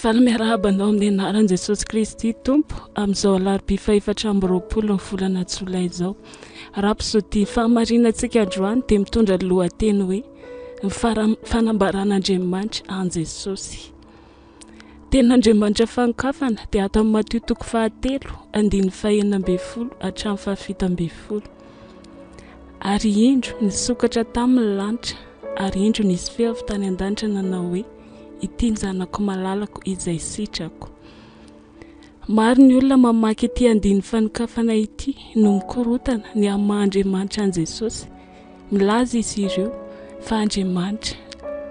Faly miarahaba anao amin'ny anaran'i Jesosy Kristy Tompo amin'izao alarobia fahefatra amby roapolo ny volana jolay izao. Raha mpizodia ny fahamarinantsika androany dia mitondra ny lohateny hoe ny fanambaran'Andriamanitra an'i Jesosy. Tenin'Andriamanitra fanokafana dia ato amin'ny Matio toko fahatelo andininy fahenina ambin'ny folo hatramin'ny fahafito ambin'ny folo. Ary indro nisokatra tamin'ny lanitra ary indro nisy feo avy tany an-danitra nanao hoe ity zanako malalako izay sitrako. Maro ny olona mamaky ity andininy fanokafana ity no mikorotana ny amin'ny maha Andriamanitra an'i Jesosy. Milaza izy ireo fa Andriamanitra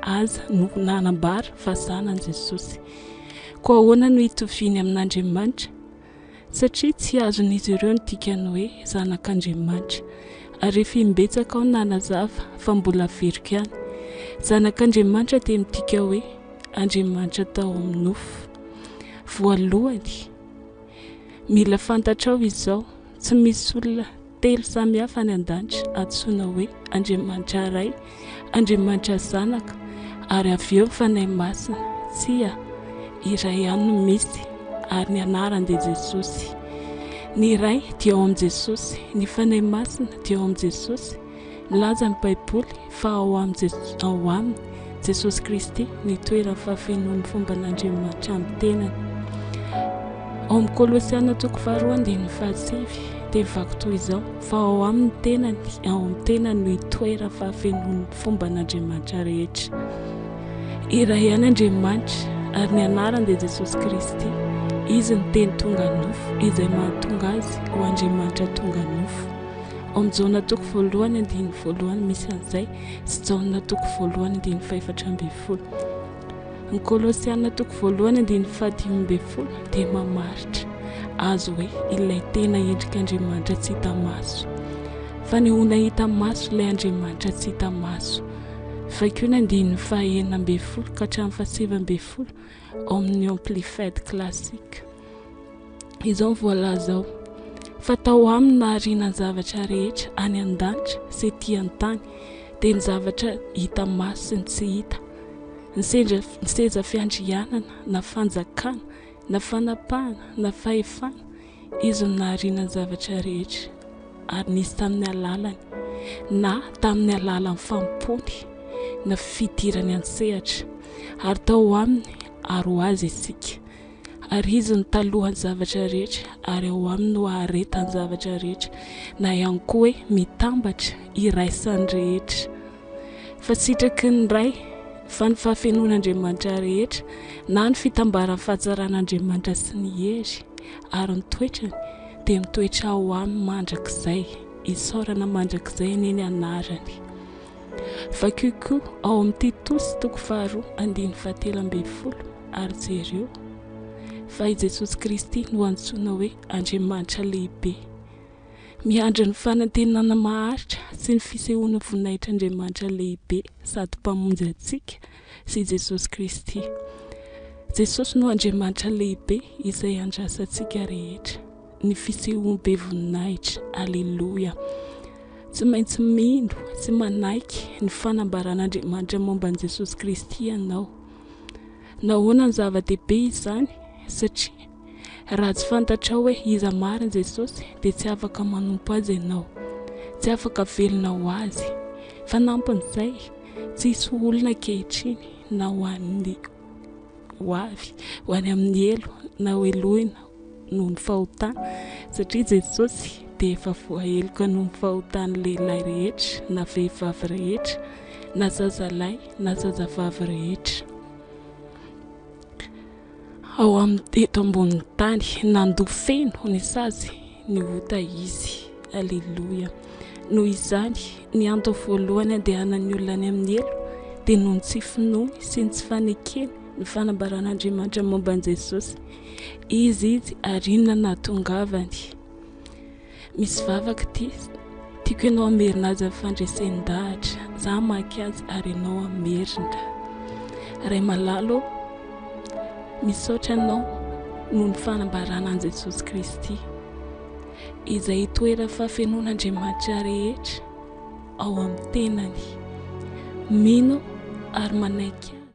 aza no nanambara fa zanany Jesosy. Koa ahoana no hitoviany amin'Andriamanitra? satria tsy azon'izy ireo ny dikan'ny hoe zanak'Andriamanitra. Ary efa imbetsaka aho nanazava, fa mbola averiko ihany, Zanak'Andriamanitra dia midika hoe Andriamanitra tao amin'ny nofo. Voalohany, mila fantatrao izao, tsy misy olona Telo samy hafa any an-danitra antsoina hoe Andriamanitra Ray, Andriamanitra Zanaka ary avy eo ny Fanahy Masina. Tsia, iray ihany no misy ary ny anarany dia Jesosy. Ny Ray dia ao amin'i Jesosy, ny Fanahy Masina dia ao amin'i Jesosy. Nilaza ny Baiboly fa ao amin'ny ao aminy, Jesosy Kristy, ny toeran'ny fahafenoan'ny fomban'Andriamanitra amin'ny tenany. Ao amin'ny Kolosiana toko faharoa andininy fahasivy dia mivaky toy izao fa ao amin'ny tenany, ao amin'ny tenany no itoeran'ny fahafenoan'ny fomban'Andriamanitra rehetra. Iray ihany Andriamanitra ary ny anarany dia Jesosy Kristy, izy ny teny tonga nofo izay mahatonga azy ho Andriamanitra tonga nofo. Ao amin'ny Jaona toko voalohany andininy voalohany misy an'izay sy Jaona toko voalohany andininy fahefatra ambin'ny folo. Ny Kolosiana toko voalohany andininy fahadimy ambin'ny folo dia mamaritra azy hoe ilay tena endrik'Andriamanitra tsy hita maso. Fanehoana hita maso ilay Andriamanitra tsy hita maso. Vakio ny andininy fahenina ambin'ny folo ka hatramin'ny fahasivy ambin'ny folo ao amin'ny Amplified Classic. izao ny voalaza ao fa tao aminy nahariana ny zavatra rehetra any an-danitra sy ety an-tany dia ny zavatra hita maso sy ny tsy hita ny sendra ny seza fiandrianana na fanjakana na fanapahana na fahefana izy ny nahariana ny zavatra rehetra ary nisy tamin'ny alalany na tamin'ny alalan'ny fampony na fidirany an-tsehatra ary tao aminy ary ho azy isika Ary Izy no talohan'ny zavatra rehetra, ary ao Aminy no aharetan'ny zavatra rehetra, na ihany koa hoe mitambatra, iraisan'ny rehetra. Fa sitraky ny Ray, fa ny fahafenoan'Andriamanitra rehetra, na ny fitambaran'ny fahatsaran'Andriamanitra sy ny hery ary ny toetrany, dia mitoetra ao Aminy mandrakizay. Isaorana mandrakizay anie ny Anarany. Vakio koa ao amin'ny Titosy toko faharoa andininy fahatelo ambin'ny folo ary jereo fa i Jesosy Kristy no antsoina hoe Andriamanitra lehibe. Miandry ny fanantenana maharitra sy ny fisehoana voninahitr'Andriamanitra lehibe sady Mpamonjy antsika sy Jesosy Kristy. Jesosy no Andriamanitra lehibe izay andrasantsika rehetra. ny fisehoany be voninahitra. Aleloia. Tsy maintsy mino sy manaiky ny fanambaran'Andriamanitra momba an'i Jesosy Kristy ianao. Nahoana ny zava-dehibe izany? Satria raha tsy fantatrao hoe iza mariny Jesosy, dia tsy afaka manompo azy ianao. Tsy afaka velona ho azy. Fanampin'izay, tsy hisy ho olona ankehitriny na ho an'ny ho avy, ho any amin'ny helo, na ho helohina, noho ny fahotana, satria Jesosy dia efa voaheloka noho ny fahotan'ny lehilahy rehetra na vehivavy rehetra na zazalahy na zazavavy rehetra ao amin'ny teto ambonin'ny tany. Nandoa feno ny sazy ny ota izy. Aleloia. Noho izany, ny antony voalohany andehanan'ny olona any amin'ny helo dia noho ny tsy finoany sy ny tsy fanekeny ny fanambaran'Andriamanitra momba an'i Jesosy. Iza izy ary inona no nahatongavany? Misy vavaka ity, Tiako ianao hamerina azy amin'ny fandresen-dahatra, za hamaky azy ary ianao hamerina. Ray malalo, misaotra anao noho ny fanambarana an'i Jesosy Kristy, izay itoeran'ny fahafenoan'Andriamanitra rehetra ao amin'ny tenany. Mino ary manaiky azy.